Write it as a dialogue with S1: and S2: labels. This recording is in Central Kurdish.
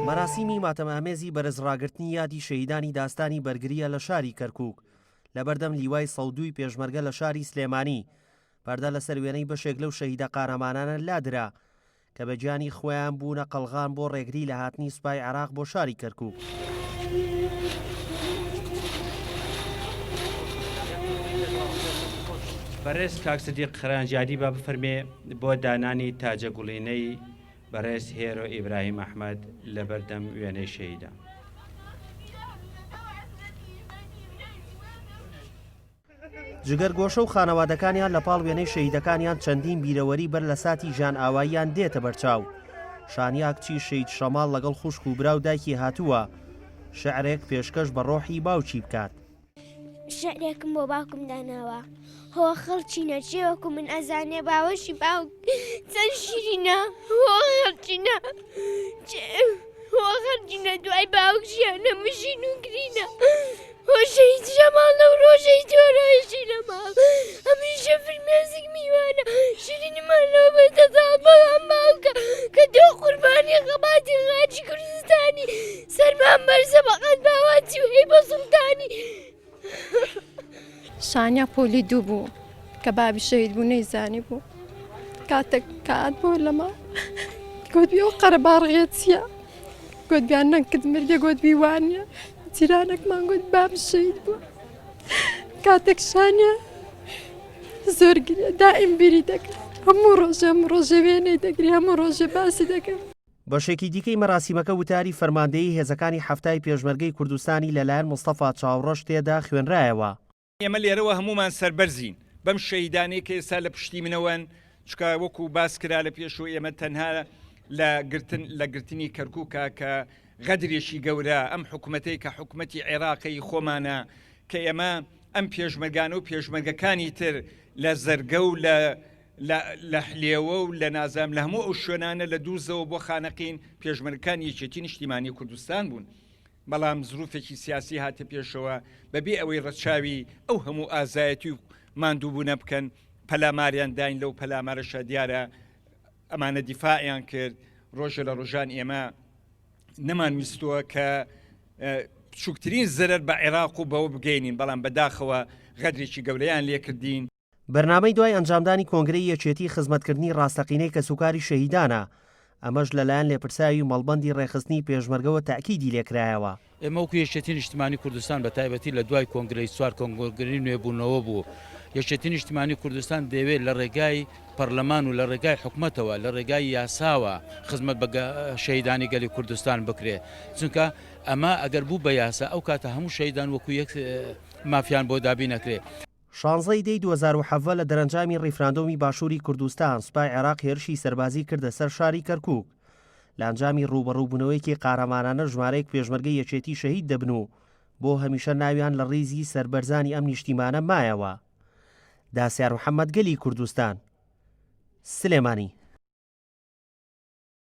S1: مەراسیمی ماتەمامێزی بەرزڕاگررتنی یادی شەیدانی داستانی بەرگریە لە شاری کەرکک لەبەردەم لیوای سەدووی پێشمەرگە لە شاری سلێمانی پەردە لەسەر وێنەی بەشێک لەو شەهیدە قارەمانانە لادرا کە بە گیانی خۆیان بوونە قەلغان بۆ ڕێگری لە هاتنی سوپای عراق بۆ شاری کەرکک.
S2: بەڕێز کاک سدیق خەرانجادی با بفەرمێ بۆ دانانی تاجە گوڵینەی بەڕێز هێرۆ ئیبراهیم ئەحمەد لە بەردەم وێنەی شەهیدان.
S1: جگەرگۆشە و خانەوادەکانیان لە پاڵ وێنەی شەیدەکانیان چەندین بیرەوەری بەر لە ساتی ژان ئاواییان دێتە بەرچاو شانیاک چی شید شەماڵ لەگەڵ خوشک و برا و دایکی هاتووە شعرێک پێشکەش بە ڕۆحی باوکی بکات شعرێکم
S3: بۆ باوکم داناوە هۆ خەڵکی نەچێ وەکو من ئەزانێ باوەشی باوک چەند شیرینە خەڵچینە خەڵچینە دوای باوک ژیانە مژین و گرینە هۆشەی جەماڵ لەو ڕۆژەی جۆرەشی لە ماڵ هەمیشە فرمێزیک میوانە شیرینمان لە بەتەزاڵ بەڵام باوکە کە دۆ قوربانی خەباتی خاچی کوردستانی سەرمان بەرزە بەقەد باواتی و هەی
S4: بە سڵتانی شانیا پۆلی دوو بوو کە بابی شەید بوو نەیزانی بوو کاتێک کات بۆ لەما گوتبی ئەو قەرە باڕغێ چییە گوتبیان نەکرد مرگە گوتبی وانە جیرانەکمان گوت باب شەید بوو کاتێک شانە زۆر دائیم بیری دەکرد هەموو ڕۆژەم ڕۆژەوێنەی دەگری هەموو ڕۆژێ باسی دەکرد بەشێکی دیکەی
S1: مەراسیمەکە وتاری فەرماندەیی هێزەکانی حەفتای پێشمەرگەی کوردستانی لەلایەن مستەفا چاوڕەش تێدا خوێنرایەوە. ئێمە لێرەوە
S5: هەموومان سەربەرزین بەم شەهیدانەی کە ئێستا لە پشتی منەوەن، چونکە وەکو باس کرا لە پێشوو ئێمە تەنها لە گرتن لە گرتنی کەرکوکە کە غەدرێکی گەورە ئەم حکومەتەی کە حکومەتی عێراقی خۆمانە کە ئێمە ئەم پێشمەرگانە و پێشمەرگەکانی تر لە زەرگە و لە لە لە حلێوە و لە نازام لە هەموو ئەو شوێنانە لە دووزەوە بۆ خانەقین پێشمەرگەکان یەکێتی نیشتیمانی کوردستان بوون بەڵام زروفێکی سیاسی هاتە پێشەوە بەبێ ئەوەی ڕەچاوی ئەو هەموو ئازایەتی و ماندووبوونە بکەن پەلاماریان داین لەو پەلامارەشە دیارە ئەمانە دیفاعیان کرد ڕۆژە لە ڕۆژان ئێمە نەمانویستووە کە بچووکترین زەرەر بە عێراق و بەوە بگەینین بەڵام بەداخەوە غەدرێکی گەورەیان لێکردین بەرنامەی دوای
S1: ئەنجامدانی کۆنگرەی یەکێتی خزمەتکردنی ڕاستەقینەی کەسوکاری شەهیدانە، ئەمەش لەلایەن لێپرسراوی مەڵبەندی ڕێکخستنی پێشمەرگەوە تەئکیدی لێکرایەوە. ئێمە وەکو یەکێتی
S6: نیشتمانی کوردستان بە تایبەتی لە دوای کۆنگرەی چوار کۆنگرەی نوێبوونەوە بوو، یەکێتی نیشتمانی کوردستان دەیەوێت لە ڕێگای پەرلەمان و لە ڕێگای حکومەتەوە لە ڕێگای یاساوە خزمەت بە شەهیدانی گەلی کوردستان بکرێت، چونکە ئەمە ئەگەر بوو بە یاسا ئەو کاتە هەموو شەهیدان وەکو یەک مافیان بۆ دابین ئەکرێت. شانزە ی دەی
S1: دوو هەزار و حەڤدە لە دەرەنجامی ڕیفراندۆمی باشووری کوردستان سوپای عێراق هێرشی سەربازی کردە سەر شاری کەرکووک. لە ئەنجامی ڕووبەڕووبوونەوەیەکی قارەمانانە ژمارەیەک پێشمەرگەی یەکێتی شەهید دەبن و بۆ هەمیشە ناویان لە ڕیزی سەربەرزانی ئەم نیشتیمانە مایەوە. داسیار محەمەد گەلی کوردستان. سلێمانی.